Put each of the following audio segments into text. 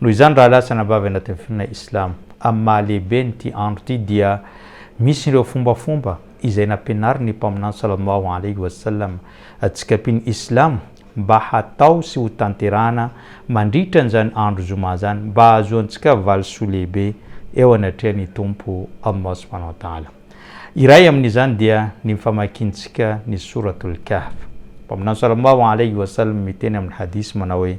Noho izany rahalahy sy anabavy anaty ny finoana Islamo, amin'ny maha lehibe ny ity andro ity dia misy ireo fombafomba izay nampianarin' ny Mpaminany sallallahu alaihi wa sallam antsika mpino Islamo mba hatao sy ho tanterahana mandritra an'izany andro Zoma izany mba hahazoantsika valisoa lehibe eo anatrehan' ny Tompo Allah subhanahu wa ta'ala. Iray amin' izany dia ny famakintsika ny Souratul Kahf. Mpaminany sallallahu alaihi wa sallam miteny amin' ny hadith manao hoe.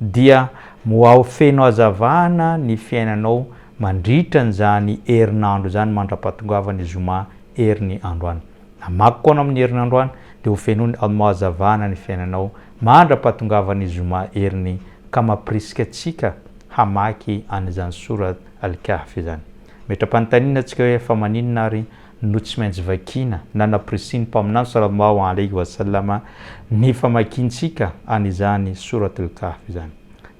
Dia moao feno hazavana ny fiainanao mandritra an'izany herinandro izany mandra-pahatongavan'ny zoma heriny androany. Namaky koa anao amin'ny heriny androany dia ho feno hazavana ny fiainanao mandra-pahatongavan'ny zoma heriny ka mampirisika antsika hamaky an'izany Sourate Al-Kahf izany. Metra-panontaniana antsika hoe fa maninona ary no tsy maintsy vakiana na nampirisihiny Mpaminany Sallallahu Alaihi wa Sallam ny famakiantsika an' izany Sourat Al-Kahf izany.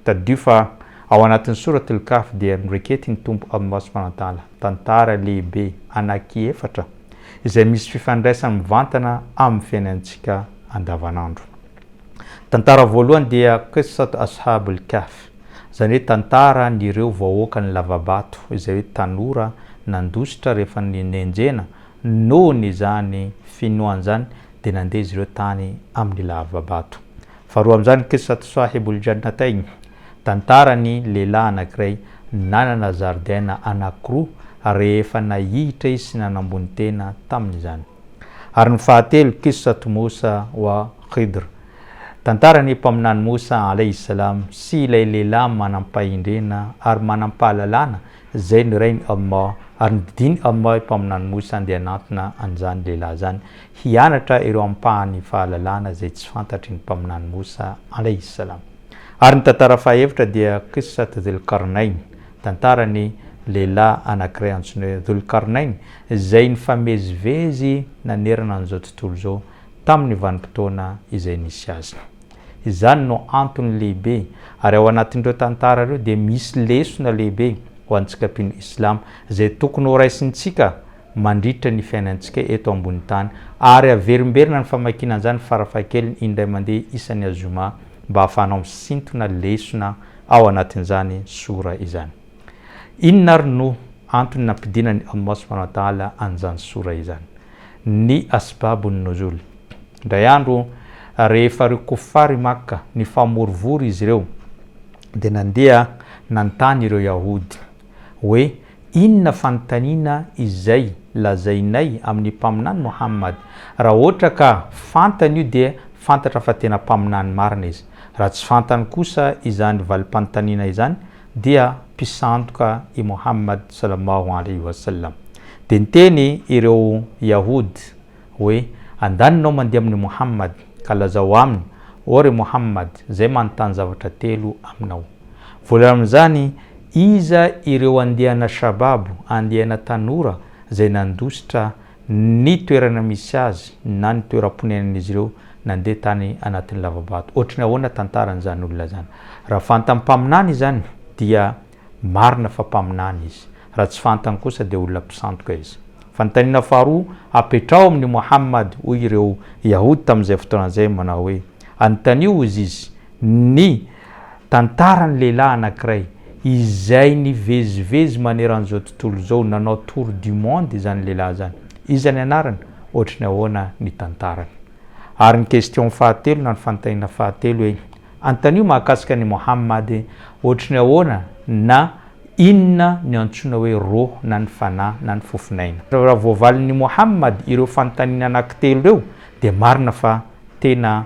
Tadidio fa ao anatin'ny Sourat Al-Kahf dia noraiketin'ny Tompo Allah Subhanahu wa Ta'ala tantara lehibe anaky efatra izay misy fifandraisany mivantana amin'ny fiainantsika andavanandro. Tantara voalohany dia Qissat Ashab al-Kahf, izany hoe tantara an'ireo vahoakan'ny lavabato, izay hoe tanora nandositra rehefa nenjehina, nohon' izany finoany izany dia nandeha izy ireo tany amin'ny lavabato. Faharoa amin'izany Qissat Sahib al-Jannatayn, tantaran'ny lehilahy anankiray nanana zaridaina anankiroa rehefa nahihitra izy sy nanambony tena tamin'izany. Ary ny fahatelo, Qissat Moussa wa Khidr, Tantaran'ny Mpaminany Moussa alayhi salam sy ilay lehilahy manam-pahendrena ary manam-pahalalana izay nirahin'i Allah, ary nodidian'i Allah i Mpaminany Moussa handeha hanantona an'izany lehilahy izany hianatra ireo ampahan'ny fahalalana izay tsy fantatry ny Mpaminany Moussa alayhi salam. Ary ny tantara fahaefatra dia Qissat Dhul Qarnayn, Tantaran'ny lehilahy anankiray antsoina hoe Dhul Qarnayn izay nifamezivezy nanerana an'izao tontolo izao tamin'ny vanim-potoana izay nisy azy. Izany no antony lehibe, ary ao anatin'ireo tantara ireo dia misy lesona lehibe ho antsika mpino Islam izay tokony horaisintsika mandritra ny fiainantsika eto ambony tany, ary averimberina ny famakiana an'izany farafahakeliny indray mandeha isan'ny Azoma mba hahafahanao misintona lesona ao anatin'izany Surah izany. Inona ary no antony nampidinan'i Allah subhanahu wa ta'ala an'izany sourah izany? Ny asbabun nuzul. Indray andro rehefa ireo kuffar i Makka nifamorivory izy ireo dia nandeha nanontany ireo yahoud hoe inona fanontaniana izay lazainay amin'ny mpaminany Muhammad? Raha ohatra ka fantany io dia fantatra fa tena mpaminany marina izy. Raha tsy fantany kosa izany valim-panontaniana izany dia mpisandoka i Mohammad Sallallahu Alaihi Wasallam. Dia niteny ireo Yahoud hoe, Andaninao mandeha amin'i Mohammad, ka lazao aminy, ô ry Mohammad, izay manontany zavatra telo aminao. Voalohany amin'izany, iza ireo andiana shabab, andiana tanora, izay nandositra ny toerana misy azy na ny toeram-ponenan'izy ireo nandeha tany anatin'ny lava-bato. Ohatry ny ahoana tantaran'izany olona izany? Raha fantan'ny mpaminany izany dia marina fa mpaminany izy, raha tsy fantany kosa dia olona mpisandoka izy. Fanontaniana faharoa apetraho amin'i Mohammad, hoy ireo Yahody tamin'izay fotoana izay manao hoe, Anontanio ozy izy ny Tantaran'ny lehilahy anankiray izay nivezivezy maneran'izao tontolo izao, nanao tour du monde izany lehilahy izany. Iza ny anarany? Ohatry ny ahoana ny tantarany? Ary ny question fahatelo na ny fanontaniana fahatelo hoe, antanio mahakasika an'i Mohammad hoe, ohatry ny ahoana na inona no iantsoana hoe roh na ny fanahy na ny fofon'aina? Raha voavalin'i Mohammad ireo fanontaniana anankitelo ireo dia marina fa tena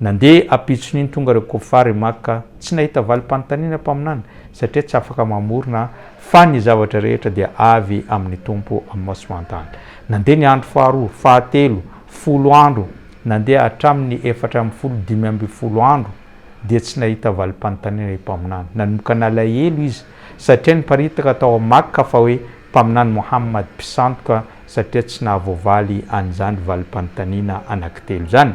Nandeha ampitson'iny tonga ireo Kofar i Makka, tsy nahita valim-panontaniana mpaminany satria tsy afaka mamorona fa ny zavatra rehetra dia avy amin'ny Tompo Allah swt. Nandeha ny andro faharoa, fahatelo, folo andro, nandeha hatramin'ny efatra ambin'ny folo, dimy ambin'ny folo andro dia tsy nahita valim-panontaniana i Mpaminany. Nanomboka nalahelo izy satria niparitaka tao a Makka fa hoe Mpaminany Mohammad, mpisandoka, satria tsy nahavoavaly an'izany valim-panontaniana anankitelo izany.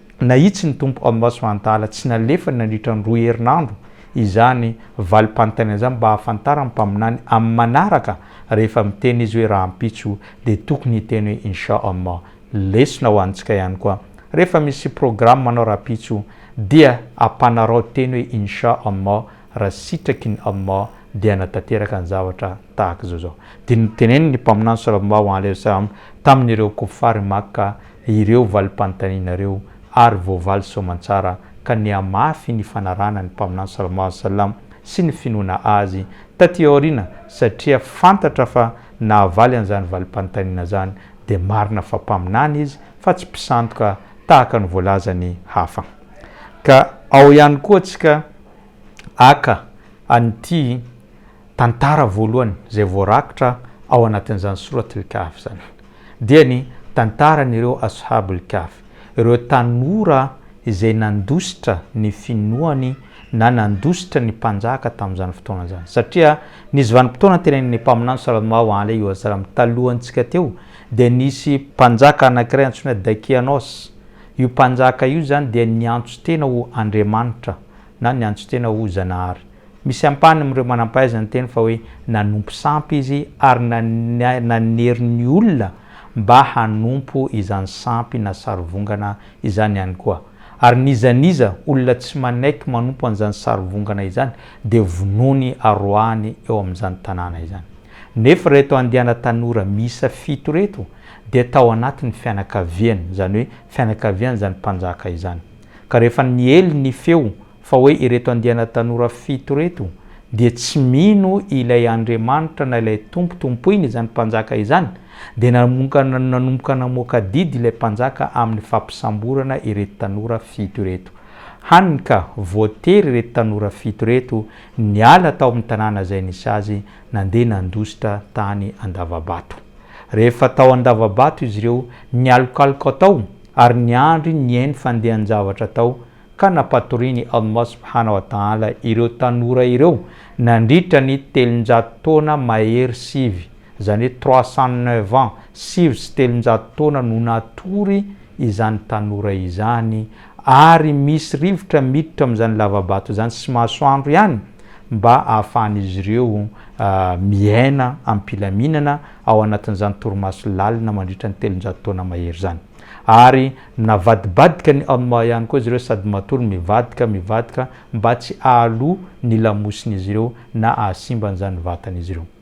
Nahitsy ny Tompo Allah subhanahu wa ta'ala tsy nalefany nandritra ny roa herinandro izany valim-panontaniana izany mba hahafantaran'ny Mpaminany amin'ny manaraka rehefa miteny izy hoe rahampitso dia tokony hiteny hoe Insha Allah. Lesona ho antsika ihany koa, rehefa misy programme anao rahampitso dia ampanarao teny hoe Insha Allah raha sitraky ny Allah dia hanatanteraka ny zavatra tahaka izao izao. Dia niteneniny ny Mpaminany Sallallahu alaihi wa sallam tamin'ireo Kofary Makka ireo valim-panontaniana ireo ary voavaly soamantsara ka nihamafy ny fanarahana ny Mpaminany Sallallahu alaihi wa sallam sy ny finoana Azy taty aoriana satria fantatra fa nahavaly an'izany valim-panontaniana izany dia marina fa Mpaminany izy fa tsy mpisandoka tahaka ny voalazan'ny hafa. Ka ao ihany koa tsika. haka an'ity tantara voalohany izay voarakitra ao anatin'izany Sourat al-Kahf izany, dia ny tantaran'ireo Ashab al-Kahf, ireo tanora izay nandositra ny finoany na nandositra ny mpanjaka tamin'izany fotoana izany. Satria nisy vanim-potoana antenain'ny Mpaminany sal-lmao alaihi wa sallam talohantsika teo dia nisy mpanjaka anankiray antsoina Dakianos Io mpanjaka io izany dia niantso tena ho Andriamanitra na niantso tena ho Zanahary. Misy ampahany amin'ireo manam-pahaizana niteny fa hoe nanompo sampy izy ary nanery ny olona mba hanompo izany sampy na sarivongana izany ihany koa. Ary n'iza n'iza olona tsy manaiky manompo an'izany sarivongana izany dia vonoiny aroahany eo amin'izany tanàna izany. Nefa ireto andiana tanora miisa fito ireto dia tao anatin'ny fianakaviany, izany hoe fianakavian'izany mpanjaka izany. Ka rehefa niely ny feo fa hoe ireto andiana tanora fito ireto dia tsy mino ilay Andriamanitra na ilay Tompo tompoiny izany mpanjaka izany, dia nanomboka namoaka didy ilay mpanjaka amin'ny fampisamborana ireto tanora fito ireto. Hany ka voatery ireto tanora fito ireto niala tao amin'ny tanàna izay nisy azy nandeha nandositra tany Andavabato. Rehefa tao Andavabato izy ireo, nialokaloka tao ary niandry ny eny fandehan-javatra tao ka nampatorin'i Allah subhana wa ta'ala ireo tanora ireo nandritra ny telonjato taona mahery sivy, izany hoe trois cent neuf ans, sivy sy telonjato taona no natory izany tanora izany, ary misy rivotra miditra amin'izany lava-bato izany sy masoandro ihany mba ahafahan'izy ireo miaina am-pilaminana ao anatin'izany torimaso lalina mandritra ny telonjato taona mahery izany. Ary minavadibadika ny Amma ihany koa izy ireo sady matory mivadika, mivadika mba tsy hahaloa ny lamosin'izy ireo na hahasimba an'izany vatan'izy ireo.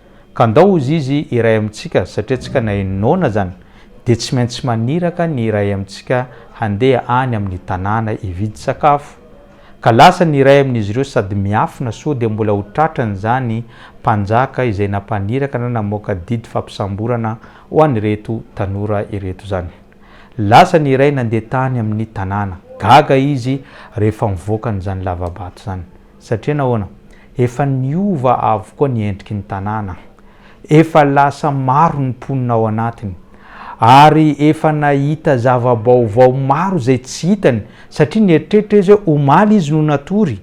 Ka ndao hozy izy iray amintsika satria tsika na eny noana zany dia tsy maintsy maniraka ny iray amintsika handeha any amin'ny tanàna hividy sakafo. Ka lasa ny iray amin'izy ireo sady miafina soa dia mbola ho tratran'izany mpanjaka izay nampaniraka na namoaka didy fampisamborana ho an'ireto tanora ireto zany. Lasa ny iray nandeha tany amin'ny tanàna. Gaga izy rehefa mivoaka an'izany lava-bato zany. Satria nahoana? Efa niova avokoa ny endriky ny tanàna, efa lasa maro ny mponina ao anatiny, ary efa nahita zava-baovao maro izay tsy hitany, satria nieritreritra izy hoe omaly izy no natory,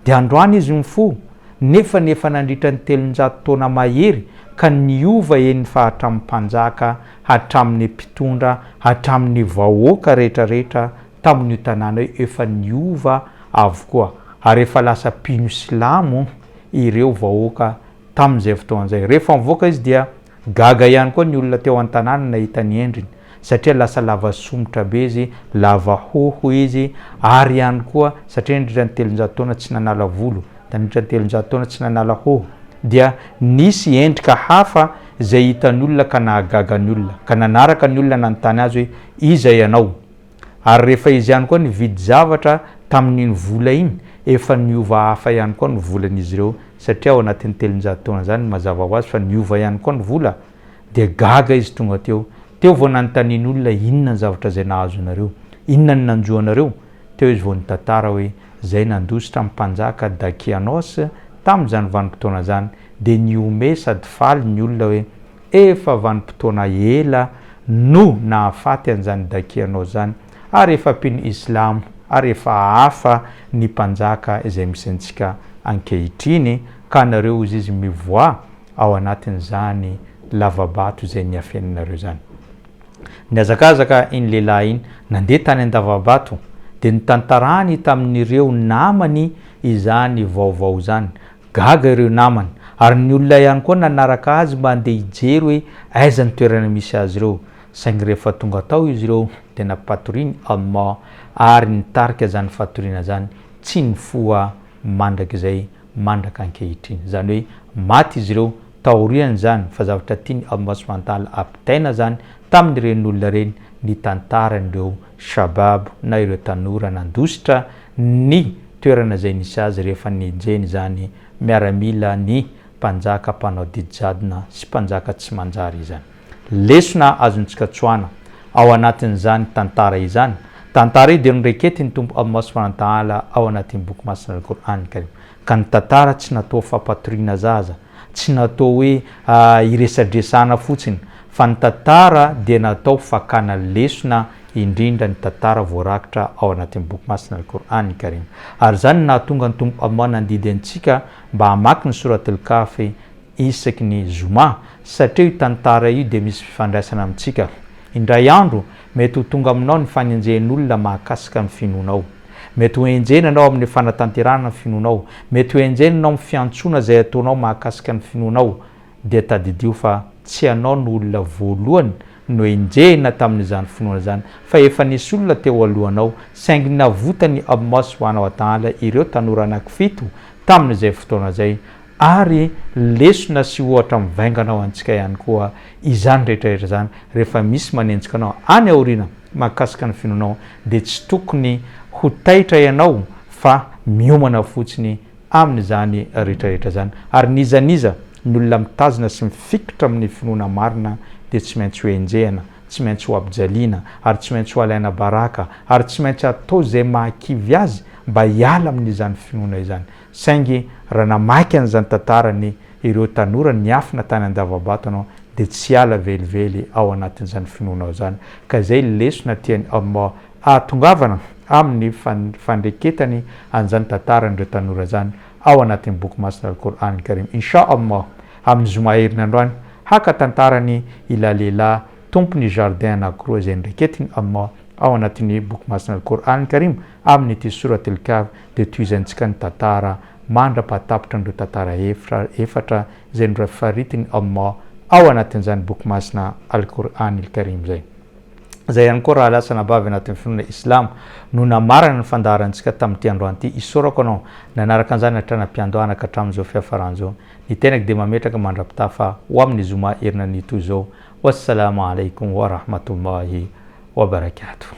dia androany izy no nifoha, nefa ny efa nandritra ny telonjato taona mahery, ka niova eny fa hatramin'ny mpanjaka, hatramin'ny mpitondra, hatramin'ny vahoaka rehetra rehetra, tamin'io tanàna io efa niova avokoa ary efa lasa mpino silamo ireo vahoaka tamin'izay fotoana izay. Rehefa nivoaka izy dia gaga ihany koa ny olona teo an-tanàna nahita ny endriny satria lasa lava somotra be izy, lava hoho izy ary ihany koa satria nandritra ny telonjato taona tsy nanala volo, nandritra ny telonjato taona tsy nanala hoho dia nisy endrika hafa izay hitan'ny olona ka nahagaga ny olona ka nanaraka ny olona nanontany azy hoe iza ianao? Ary rehefa izy ihany koa nividy zavatra tamin'iny vola iny, efa niova hafa ihany koa ny volan'izy ireo, satria ao anatin'ny telonjato taona izany, mazava ho azy fa niova ihany koa ny vola, dia gaga izy tonga teo. Teo vao nanontaniany olona, Inona ny zavatra izay nahazonareo? Inona no nanjo anareo? Teo izy vao nitantara hoe, Izay nandositra ny mpanjaka Dakianôsy tamin'izany vanim-potoana izany, dia nihomehy sady faly ny olona hoe, Efa vanim-potoana ela no nahafaty an'izany dakianao izany, ary efa mpino islamo ary efa hafa ny mpanjaka izay misy antsika ankehitriny, ka anareo hozy izy mivoa ao anatin'izany lavabato izay niafenanareo izany. Nihazakazaka iny lehilahy iny, nandeha tany an-davabato, dia nitantarany tamin'ireo namany izany vaovao izany, Gaga ireo namany ary ny olona ihany koa nanaraka azy mba handeha hijery hoe aiza ny toerana misy azy ireo, saingy rehefa tonga tao izy ireo dia nampatoriany Almà ary nitarika izany fatoriana izany tsy nifoha mandrakizay mandraka ankehitriny. Izany hoe maty izy ireo taorian'izany fa zavatra tiany Almà sy Mantala ampitaina izany tamin'ireny olona ireny ny tantaran'ireo Shabab na ireo tanora nandositra ny toerana izay nisy azy rehefa nenjehiny izany miaramila ny mpanjaka mpanao didy jadona sy mpanjaka tsy manjary izany. Lesona azontsika tsoahana ao anatin'izany tantara izany, tantara io dia noraiketin'ny Tompo Allah Subhanahu wa Ta'ala ao anatin'ny Boky Masin'Al-Qur'an Al-Karim, ka ny tantara tsy natoa fampatoriana zaza Tsy natao hoe hiresadresahana fotsiny fa ny tantara dia natao fakana lesona indrindra ny tantara voarakitra ao anatin'ny Boky Masina Al-Qur'an Karim. Ary izany no nahatonga ny Tompo Allah nandidy antsika mba hamaky ny Surat Al-Kahf isaky ny Zoma satria io tantara io dia misy fifandraisana amintsika. Indray andro mety ho tonga aminao ny fanenjehan'olona mahakasika ny finoanao. Mety ho enjehina ianao amin'ny fanatanterahana ny finoanao. Mety ho enjehina ianao amin'ny fiantsoana izay ataonao mahakasika ny finoanao. Dia tadidio fa tsy ianao no olona voalohany noenjehina tamin'izany finoana izany, fa efa nisy olona teo alohanao, saingy navotan'i Amos ho anao adaala ireo tanora anankifito tamin'izay fotoana izay, Ary lesona sy ohatra mivaingana ho antsika ihany koa izany rehetra rehetra izany rehefa misy manenjika anao any aoriana mahakasika ny finoanao dia tsy tokony ho taitra ianao fa miomana fotsiny amin'izany rehetra rehetra izany ary n'iza n'iza ny olona mitazona sy mifikitra amin'ny finoana marina dia tsy maintsy ho enjehina, tsy maintsy ho ampijaliana ary tsy maintsy ho alaina baraka ary tsy maintsy atao izay mahakivy azy mba hiala amin'izany finoana izany. Saingy raha namaky an'izany tantarany ireo tanora niafina tany Andavabato anao dia tsy hiala velively ao anatin'izany finoanao izany ka izay lesona tiany ahatongavana aminy fandreketany an'izany tantaran'ireo tanora izany ao anatin'ny boky masina Al-Qur'an Karim Insha Allah amin'ny zoma herinandro any haka tantarany ilay lehilahy tompon'ny jardin anankiroa izay noreketiny ao anatin'ny boky masina Al-Qur'an Karim amin'ity Surat Al-Kahf dia tohizantsika ny tantara mandra-pahatapitra an'ireo tantara efatra izay norafaritin'i Allah ao anatin'izany Boky Masina Al-Qur'anil Karim izay. Izay ihany koa raha lasa anabavy anatin'ny finoana Islamo no namarana ny fandaharantsika tamin'ity androany ity. Isaorako anao nanaraka an'izany hatrany am-piandohana ka hatramin'izao fiafarany izao. Ny tenako dia mametraka mandra-pitafa ho amin'ny Zoma herinandro ny toy izao. Wassalama Alaikum Wa Rahmatullahi Wa Barakatuh.